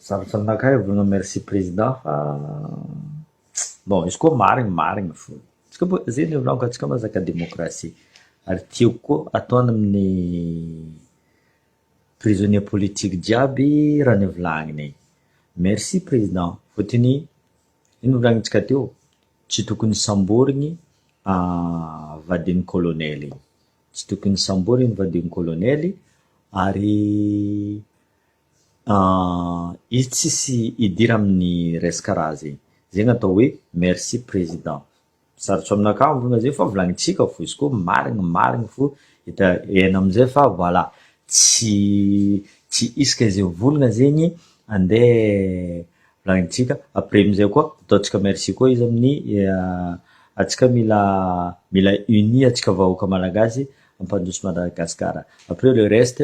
Zava-tsy naka ahy Bruno merci président fa bon izy koa marigny marigny fô tsika bôka zegny le vlog antsika mazaka démocratie ary tiako koa ataony amin'ny prisonnier politique jiaby raha nivolagniny igny. Merci président fôtony ino volagnintsika teo tsy tokony samborigny vadin'ny colonel igny tsy tokony samborigny vadin'ny colonel ary Ah izy tsisy hidira aminy resaka raha zay. Zay gnatao hoe merci président. Sarotso aminakahy mivonona zay fa volanintsika fo izy koa marigny marigny fo hita heno amizay fa voilà tsy tsy isika zay mivonona zegny ande volanintsika après amizay koa ataontsika merci koa izy aminy atsika mila mila unis atsika vahoaka malagasy ampandroso Madagascar après le reste.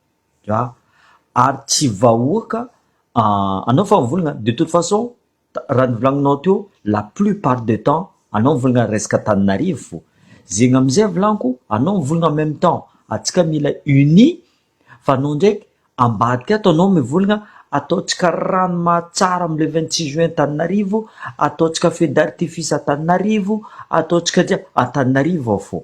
Dra, ary tsy vahoaka anao fa mivolagna, de toute façon raha novolagninao teo la plus part de temps anao mivolagna resaka Antananarivo, zegny amizay volagniko anao mivolagna en meme temps antsika mila unis fa anao ndraiky ambadika ato anao mivolagna ataontsika ranomaha tsara amle vingt six juin Antananarivo, ataontsika feux d'artifice Antananarivo, ataontsika Antananarivo ao fô.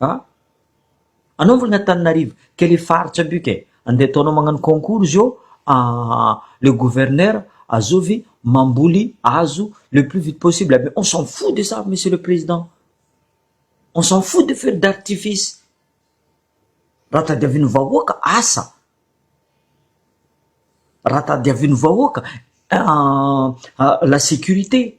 A! Anaovagna Antananarivo ke le faritra be ke, ande ataonao magnano concours izy eo le gouverneur azovy mamboly hazo le plus vite possible aby on s'en fou de ça monsieur le président, on s'en fou de feux d'artifice, raha tadiavin'ny vahoaka asa, raha tadiavin'ny vahoaka la sécurité.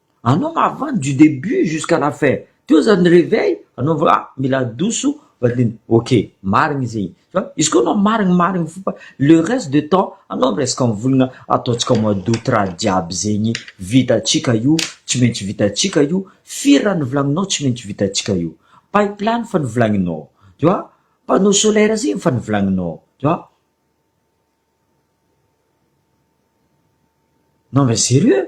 Anao mahafaly du debut jusqu'à la fin teo zany reveil anao vao ah mila adoso vadiny ok marigny zegny fa izy koa anao marigny marigny fo fa le reste de temps anao miresaka am volagna ataontsika mois d'aout raha jiaby zegny vitantsika io tsy maintsy vitantsika io firy raha novolagninao tsy maintsy vitantsika io pipeline fa novolagninao tu vois panneau solaire zegny efa novolagninao tu vois non mais serieux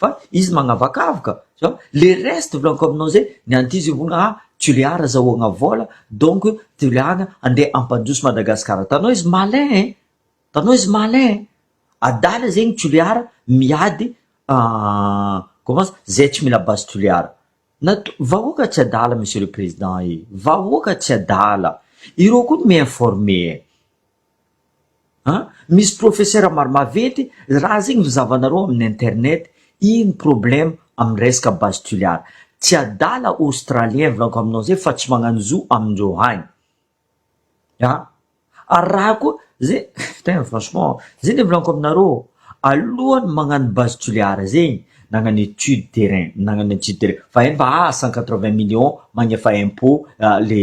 fa izy magnavakavoka zao le reste voulons comme non zay ny ankizy hono ah tulear azahoagna vola donc tulear andeha ampandroso madagasikara tanao izy malin e tanao izy malin e adala zegny tulear miady comment ça zay tsy mila base tulear na to- vahoaka tsy adala monsieur le président e vahoaka tsy adala ireo koa no mi-informer e An! Misy professeur maro maventy raha zegny ny zavanareo amin'ny internet, ino problème amin'ny resaka base tuliara? Tsy adala australien volako aminao zay fa tsy magnano zo amindreo agny an! Ary raha koa ze putain franchement ze le volako aminareo alohan'ny magnano base tuliara zegny nagnano étude terrain nagnano étude terrain fa eny fa aa cent quatre vingt millions magnefa impot le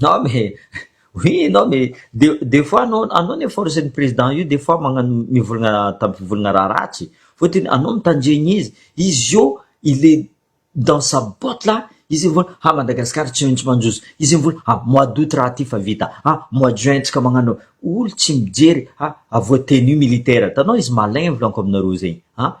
Non mais oui non mais de fois anao anao anie force ny président io de fois magnano mivolagna tamim-pivolagna raha ratsy fotony anao mitandregny izy izy io il est dans sa botte là izy mivola ha Madagascar tsy maintsy manjozo izy mivola ha mois d'aout raha ty fa vita ha mois de juin tsika magnano olo tsy mijery ha voatenu militaire hitanao izy malin volako aminareo zegny ha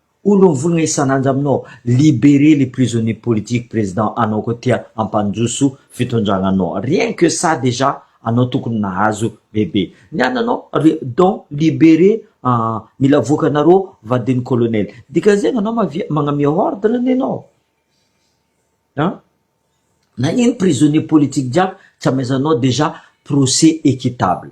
Olo mivolagna isan'andro aminao, liberer les prisonniers politiques président anao koa tia hampandroso fitondragnanao, rien que ça déjà anao tokony nahazo bebe, ny ananao re donc liberer an mila voaka anareo vadin'i colonel, dikan'izegny anao mavia magnamia ordre anie anao an, nagnino prisonniers politiques jiaby tsy amezanao déjà procès équitable.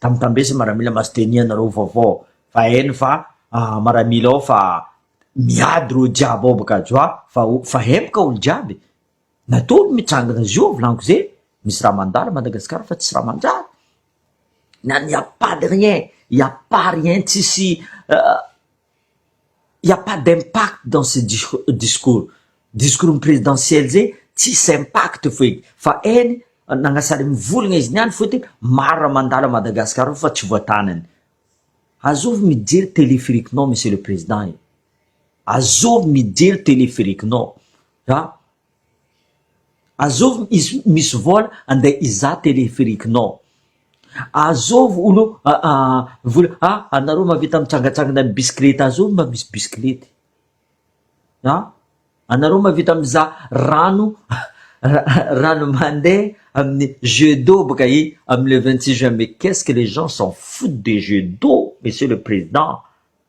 Tambitambesa maramila mas denia nareo vaovao fa eny fa maramila ao fa miady reo jiaby ao baka joa fa fa hempoka olo jiaby natolo mitsangana zio volaniko ze misy raha mandalo madagasikara fa tsisy raha manjary na ny a pas de rien i a pas rien tsisy Il n'y a pas d'impact dans ce discours. Discours ny présidentielle zay tsisy impact feky fa eny nagnasary mivolagna izy niany fô ty maro raha mandalo à Madagascar ao fa tsy voatanany. Azovy mijery téléphérique nao monsieur le président e! Azovy mijery téléphérique nao a! Azovy misy vola andeha hizaha téléphérique nao. Azovy hono vola ah anareo mahavita mitsangatsangana amin'ny bisikilety azovy mba misy bisikilety ah anareo mahavita mizaha rano rano mandeha amin'ny jeux d'eau boka i amin'ny le vingt six juin mais qu'est-ce que les gens s'en foutent des jeux d'eau monsieur le président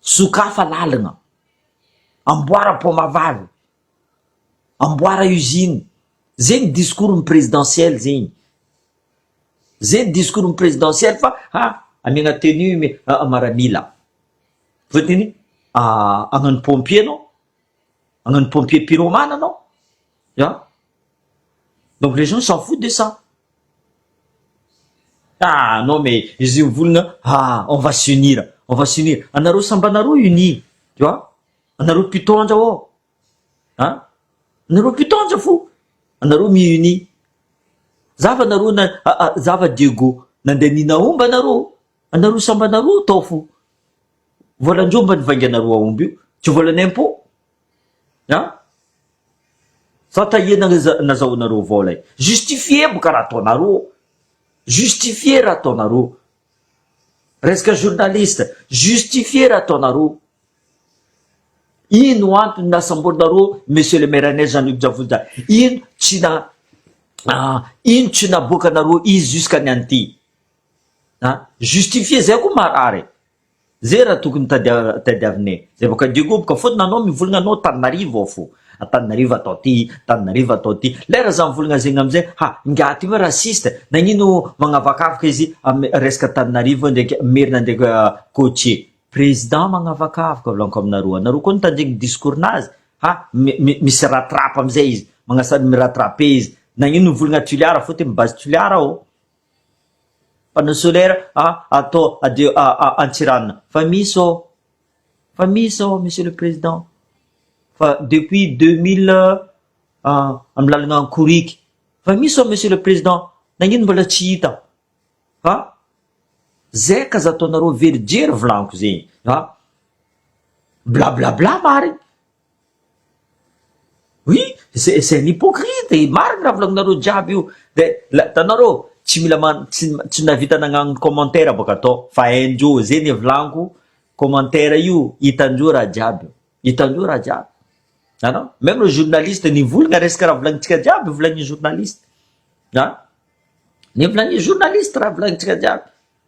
Sokafy lalina, amboara paoma vavy, amboara usine, zegny discours ny presidentiel zegny, zegny discours ny presidentiel fa ha amiagna tenue mi maramila, fotony agnano pompier anao, agnano pompier pyromane anao, ya donc les gens s'en foutent de ça. Ah non mais izy io volona ah on va s'unir on va s'unir anareo samby anareo unis tu vois anareo mpitondra ô an anareo mpitondra fo anareo mi unis za fa anareo na za fa diego nandeha nina omby anareo anareo samby anareo tao fo voalan'jomba nivainganareo aomby io tsy voalan'impôt An! Fa taie nazahoanareo avao lay. Justifier boka raha ataonareo. Justifier raha ataonareo. Resaka journaliste. Justifier raha ataonareo. Ino no antony nasamborinareo Monsieur le Maire Agnès Jean Luc Javoja. Ino tsy na ino tsy naboakanareo izy jusqu'à ny an'ity. An! Justifier zay koa marary e. Zay raha tokony tadiavinay zay vao ka Diego boka fotony anao mivolagna anao Antananarivo ao fo Antananarivo atao ty Antananarivo atao ty lay raha za mivolagna zegny amizay ha ingahy ty hoe raciste nagnino magnavakavaka izy am resaka Antananarivo ndraiky Merina ndraiky Côtier président magnavakavaka volanko aminareo anareo koa tanjegny discours nazy ha mi misy rattrape amizay izy magnasa mi rattrape izy nagnino mivolagna Tulear fo ty mi base Tulear ao. Panneau solaire a atao adio a a Antsiranana fa misy ô! Fa misy ô Monsieur le Président fa depuis deux mille a amin'ny lalana Ankorika fa misy ô Monsieur le Président nagnino mbola tsy hita fa zay ka za ataonareo very jery volaniko zegny a blablabla marigny. Oui, c'est c'est un hypocrite, marina raha volaninareo jiaby io, de la hitanareo tsy mila man- tsy tsy nahavita nagnano commentaire bôka tô fa hain-dreo zay ny volaniko, commentaire io hitan-dreo raha jiaby, hitan-dreo raha jiaby anao, meme le journaliste nivolagna resaka raha volagnintsika jiaby volanin'ny journaliste, an! Ny volanin'ny journaliste raha volagnintsika jiaby.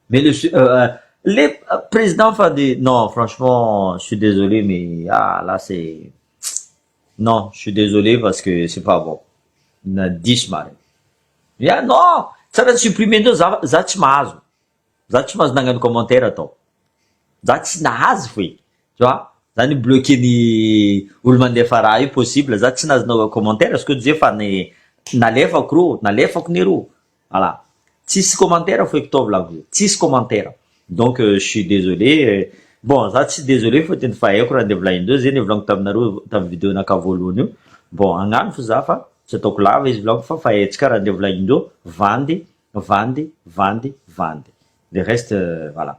Mais le su- euh, euh, le euh, président fa de non franchement je suis désolé mais ah là c'est non je suis désolé parce que c'est pas bon na diso marina ya non tsara ny supprimer ndreo za za tsy mahazo za tsy mahazo nagnano commentaire atao za tsy nahazo foy tu vois za ny bloqué ny olo mandefa raha io possible za tsy nahazo nao commentaire parce que je fa ny nalefako ro nalefako ny ro Voilà. Tsisy commentaire Foekotaovy Lakozia. Tsisy commentaire. Donc je suis désolé. Bon za tsy désolé fa tena efa haiko raha andeha volahin-dreo. Zay le volaniko taminareo tamin'ny video nakao voalohany io. Bon agnano fo za fa tsy ataoko lava izy volaniko fa fa hetsika raha andeha volahin-dreo. Vandy, vandy, vandy, vandy. Le reste voilà.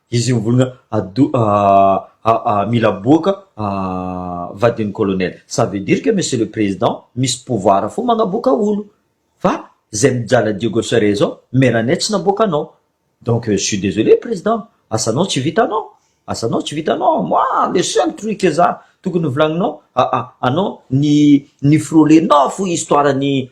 Izy io mivolagna ado aa mila boaka aa vadin'ny colonel. Ça veut dire que monsieur le président misy pouvoir fo magnaboaka olo. Fa zay mijala Diego Cerezo meranay tsy naboaka anao. Donc je suis désolé président asanao tsy vitanao. Asanao tsy vitanao. Moi le seul truc za tokony volagninao aa anao ny ny frole-nao fo histoire ny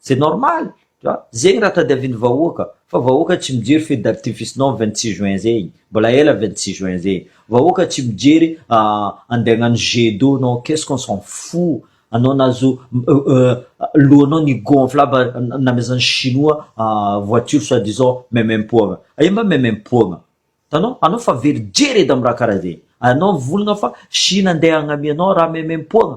C'est normal tu vois zegny raha tadiavin'ny vahoaka fa vahoaka tsy mijery feux d'artificenao vingt six juin zegny mbola ela vingt six juin zegny vahoaka tsy mijery andeha hagnano jet d'eau nao qu'est-ce qu'on s'en fou anao nazo lohanao ni gonfle aby namezan'ny chinois voiture soit disant memem-poagna aia mba memem-poagna tanao anao fa very jery edy amin'ny raha karaha zegny anao mivolagna fa chine andeha hagnamianao raha memem-poagna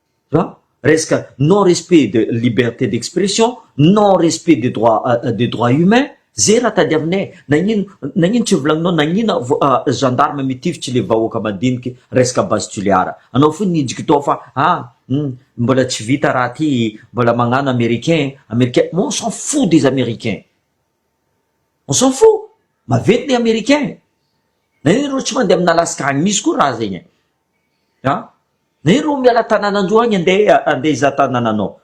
Fa resaka non respect de liberté d'expression, non respect de droit de droit humain ze raha tadiavinay, nagnino nagnino tsy volagninao nagnina gendarme mitifitry le vahoaka madiniky resaka base Toliara, anao fo nijiko tao fa ah hum mbola tsy vita raha ty mbola magnano americain americain mais on s'en fou des americains, on s'en fou, maventy ny americain, nagnino reo tsy mandeha amina alaska agny misy koa raha zegny e. an! Ney rô miala tananandroa agny andeha andeha hizaha tanananao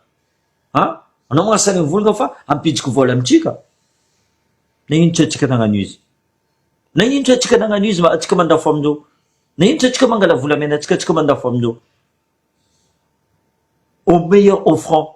an! Anao manao sary mivolagna fa ampijoko vôla amintsika? Nagnino tsy antsika nagnano izy? Nagnino tsy antsika nagnano izy ma antsika mandafo amin'io? Nagnino tsy antsika mangala volamenantsika antsika mandafo amin'io? Au meilleur offrant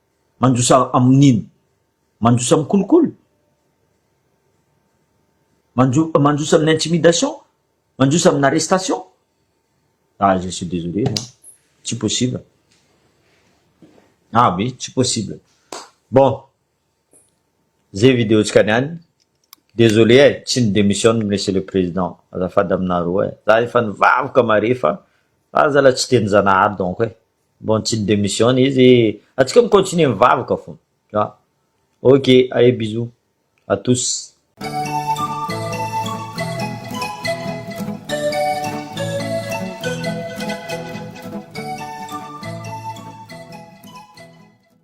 Mandosa amin'ino? Mandosa amin'ny kolikoly? Manjo- mandosa amin'ny intimidation? Mandosa amin'ny arrestation? Ah, je suis désolé, moi. Tsy possible. Ah oui, tsy possible. Bon, zay vidéo-tsika niany. Désolé e, tsy ny démissionne Monsieur le Président. Azafady aminareo e. Za efa nivavaka mare fa fa zala tsy dia ny Zanahary donc e. Bon tsy mi-demissionne izy e! Antsika mi-continuer mivavaka fona a! Ok ae bisous à tous.